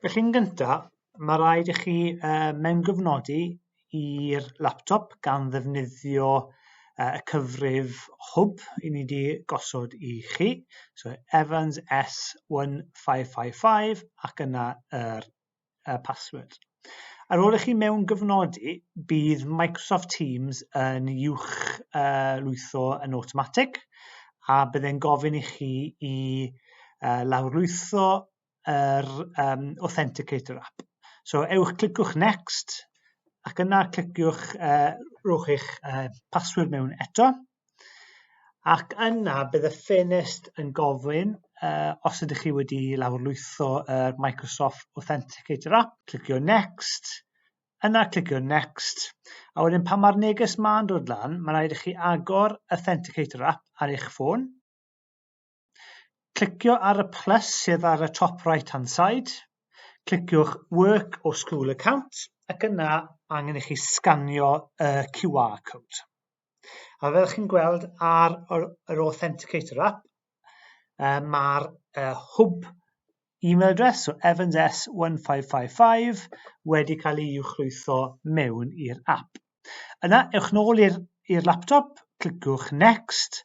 Felly yn gynta, mae rhaid i chi uh, mewngyfnodi i'r laptop gan ddefnyddio uh, y cyfrif hwb i ni wedi gosod i chi, so Evans S1555 ac yna yr uh, password. Ar ôl i chi mewn gyfnodi, bydd Microsoft Teams yn uwch uh, lwytho yn awtomatig a byddai'n gofyn i chi i uh, lawrlwytho yr um, Authenticator app. So ewch, cliciwch Next ac yna cliciwch, uh, rhowch eich uh, password mewn eto Ac yna bydd y ffenest yn gofyn uh, os ydych chi wedi lawrlwytho uh, Microsoft Authenticator app, clicio Next, yna clicio Next, a wedyn pan mae'r neges ma'n dod lan, mae'n rhaid i chi agor Authenticator app ar eich ffôn, Clicio ar y plus sydd ar y top right hand side, cliciwch Work or School Account ac yna angen i chi sganio y QR code. A fel chi'n gweld ar yr Authenticator app, mae'r hwb E-mail address o Evans S1555 wedi cael ei uwchlwytho mewn i'r app. Yna, ewch nôl i'r laptop, cliciwch Next,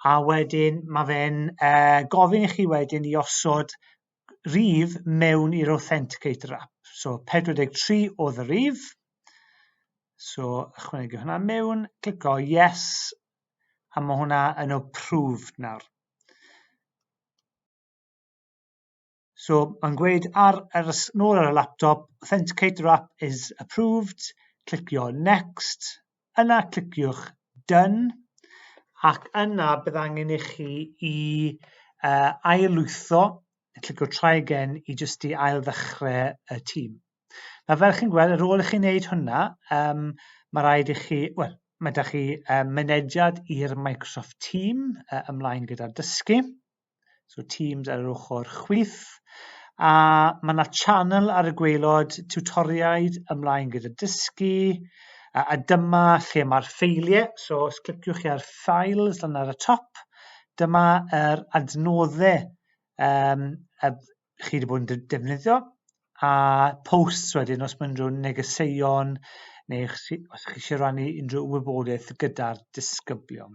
a wedyn mae fe'n uh, gofyn i chi wedyn i osod rif mewn i'r Authenticator app. So 43 oedd y rif. So ychwanegu hwnna mewn, clico yes, a mae hwnna yn approved nawr. So, mae'n gweud ar, ar, nôl ar y laptop, Authenticator app is approved, clicio next, yna cliciwch done, ac yna bydd angen i chi i uh, ailwytho, clicio try again i jyst i ail ddechrau y tîm. Nawr fel chi'n gweld, ar ôl i chi wneud hwnna, um, mae rhaid i chi, wel, mae da chi um, mynediad i'r Microsoft Team uh, ymlaen gyda'r dysgu. So Teams ar yr ochr chwith. A mae yna channel ar y gweilod, tutoriaid ymlaen gyda dysgu, a, a dyma lle mae'r ffeiliau, so os cliciwch chi ar Files lan ar y top, dyma yr adnoddau um, a chi wedi bod yn defnyddio, a posts wedyn os mae unrhyw negeseuon neu os chi eisiau rhannu unrhyw wybodaeth gyda'r disgyblion.